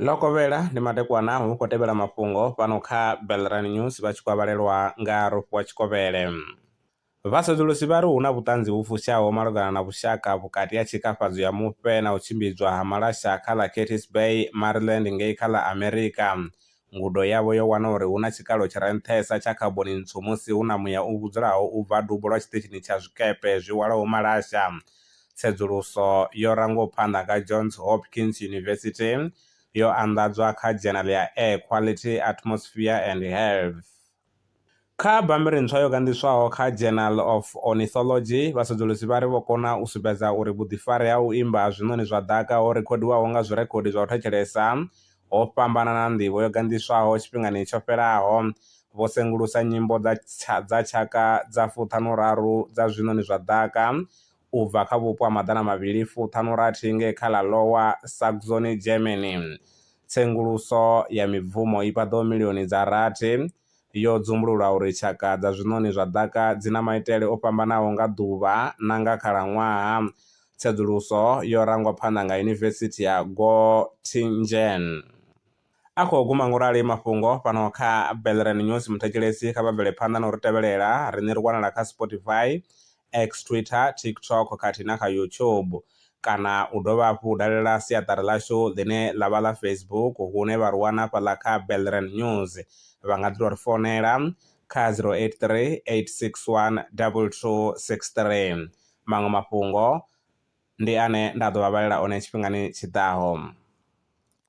Ḽo kovhela ndi madekwana hu khou tevhela mafhungo fhano kha Belrani News vha tshi kwavhalelwa nga Rofhiwa Tshikovhele. Vhasedzulusi vha ri hu na vhuṱanzi vhu fushaho malugana na vhushaka vhukati ha tshikafhadzo ya mufhe na u tshimbidzwa ha malasha kha ḽa Katteas Bay, Maryland ngei kha ḽa Amerika, Ngudo yavho yo wana uri hu na tshikalo tshi re nṱhesa tsha khaboni ntswu musi hu na muya u vhudzulaho u bva dubo lwa tshiṱitshini tsha zwikepe zwi hwalaho malasha. Tsedzuluso yo rangwaho phanḓa nga Johns Hopkins University yo anḓadzwa kha Journal ya Air Quality, Atmosphere and Health. Kha bammbiri ntswa yo ganḓiswaho kha Journal of Ornithology, vhasedzulusi vha ri vho kona u sumbedza uri vhuḓifari ha u imba ha zwiṋoni zwa ḓaka ho rekhodiwaho nga zwirekhodi zwa u thetshelesa ho fhambana na nḓivho yo ganḓiswaho tshifhingani tsho fhelaho. Vho sengulusa nyimbo dza tshaka dza fuṱhanuraru dza zwiṋoni zwa ḓaka u bva kha vhupo ha maḓana mavhili fu ṱhanu rathi ngei kha ḽa Lower Saxony, Germany. Tsenguluso ya mibvumo i paḓaho milioni dza rathi yo dzumbulula uri tshaka dza zwiṋoni zwa ḓaka dzi na maitele o fhambanaho nga ḓuvha na nga khalaṅwaha. Tsedzuluso yo rangwa phanḓa nga Yunivesithi ya Göttingen. A khou guma ngo rali mafhungo fhano kha Belren News Muthetshelesi kha vha bvele phanḓa na u ri tevhelela. Ri ni ri wanala kha Spotify, X, Twitter, TikTok khathihi na kha YouTube. Kana u dovha hafhu u dalela siaṱari ḽashu ḽine ḽa vha ḽa Facebook hune vha ri wana hafhaḽa kha Belren News. Vha nga ḓi tou ri founela kha 0838612263. Maṅwe mafhungo ndi ane nda ḓo vha vhalela one tshifhingani tshi ḓaho.